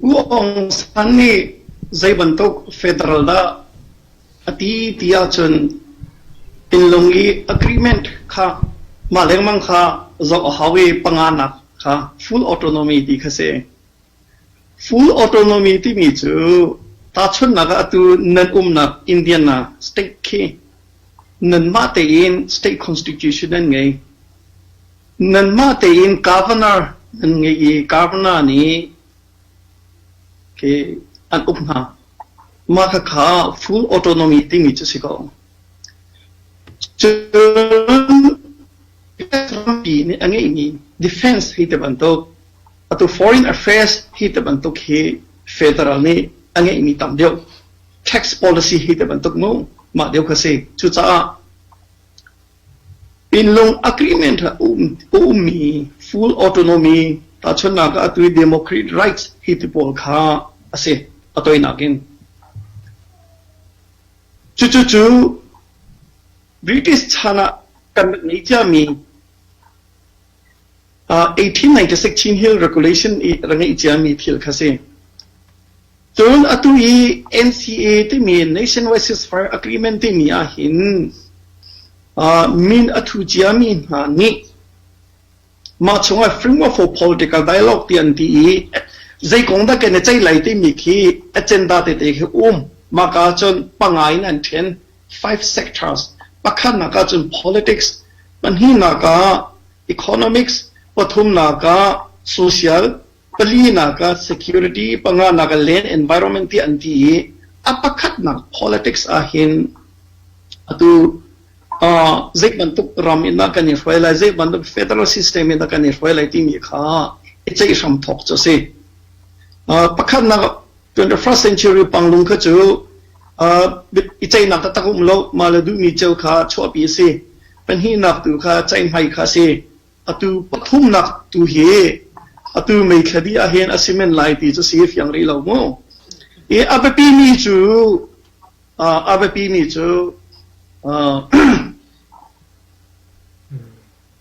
U Aung San nih zeibantuk federal dah a ti ti ahcun thinlung i agreement kha mah lengmang kha zoh a hau i panganak kha full autonomy ti kha si. Full autonomy timi cu tahchunhnak ah atu nan umnak Indiana state khi nanmah tein state constitution an ngei. Nanmah tein governor nan ngeih i governor nih khi an uk hna. Mah khakha full autonomy timi cu si ko. Cun pi nih a ngeihmi defense hi te bantuk atu foreign affairs hi te bantuk hi federal nih a ngeihmi tam deuh tax policy hi te bantuk mu mah deuh kha si cucaah Pinlung agreement ah a ummi full autonomy tahchunhnak ah atu hi democratic rights hi ti pawl kha a si a toinak in. Cucu cu British chan ah kan rak ngei ciami 1896 Chin Hill Regulation i rak ngeih ciami thil kha si. Cun atu i NCA timi Nationwide Ceasefire Agreement timi ah hin uh, min a thu ciami hna nih mah chungah framework for political dialogue ti an ti i zei kong dah kan i ceih lai timi khi agenda tete khi um maka cun pangai in an then Five sectors pakhatnak ahcun politics, pahnihnak ah economics, pathumnak ah social, palinak ah security, panganak ah land environment tiah an ti i a pakhatnak politics ahhin atu uh, zei bantuk ram in dah kan i hruai lai, zei bantuk federal system in dah kan i hruai lai timi kha i ceih hram thawk cu a si. Uh, pakhatnak 21st century panglung kha cu I ceihnak taktak um lo. Mah le duhmi ceu kha chuahpi a si. Pahnihnak tu kha ceihmai kha a si. Atu pathumnak tu hi atu meithladi ah hin a si men lai ti cu si fiang rih lo mu. I a biapi mi cu a biapi mi cu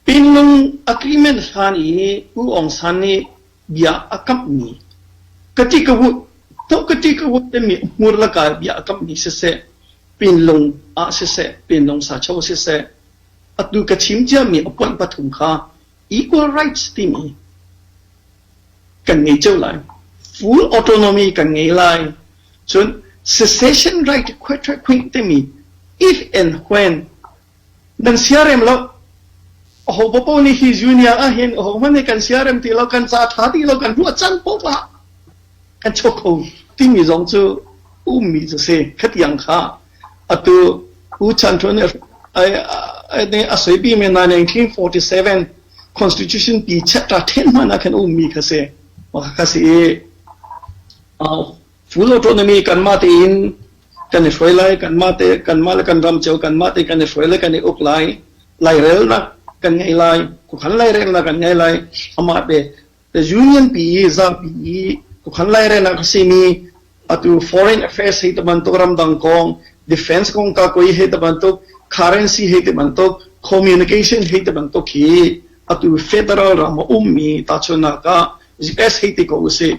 Pinlung agreement hlan i U Aung San nih bia a kamhmi ka ti ka hut to ka ti ka hut timi hmur laka bia a kamhmi siseh pinlung ah siseh pinlung sa cho siseh atu ka chim ciami a point pathum kha equal rights timi kan ngei ceu lai full autonomy kan ngei lai cun secession right khuai timi if and when nan siarem lo aho popo nih hi junior ah hin aho hmanh nih kan siarem ti lo kan ca tha ti lo kan hmuh can poh lah kan cho kho timi zong cu ummi cu si khatiang kha atu u chan thon nih a soipi me 1947 constitution pi chapter 10 mana kan ummi kha si ma kha si Cu lo tournament hi kanmah tein kan i hruai lai, kanmah te, kanmah le kan ram cio kanmah te kan i hruai lai, kan i uk lai, lairelnak kan ngei lai, khuakhan lairelnak kan ngei lai, amah te, the union pi i zapi i khuakhan lairelnak a simi atu foreign affairs hei ti bantuk ramdang kong defense kong ka koi hei ti bantuk currency hei ti bantuk communication hei ti bantuk hi atu federal ram a ummi tahchunnak ah US hei ti ko usih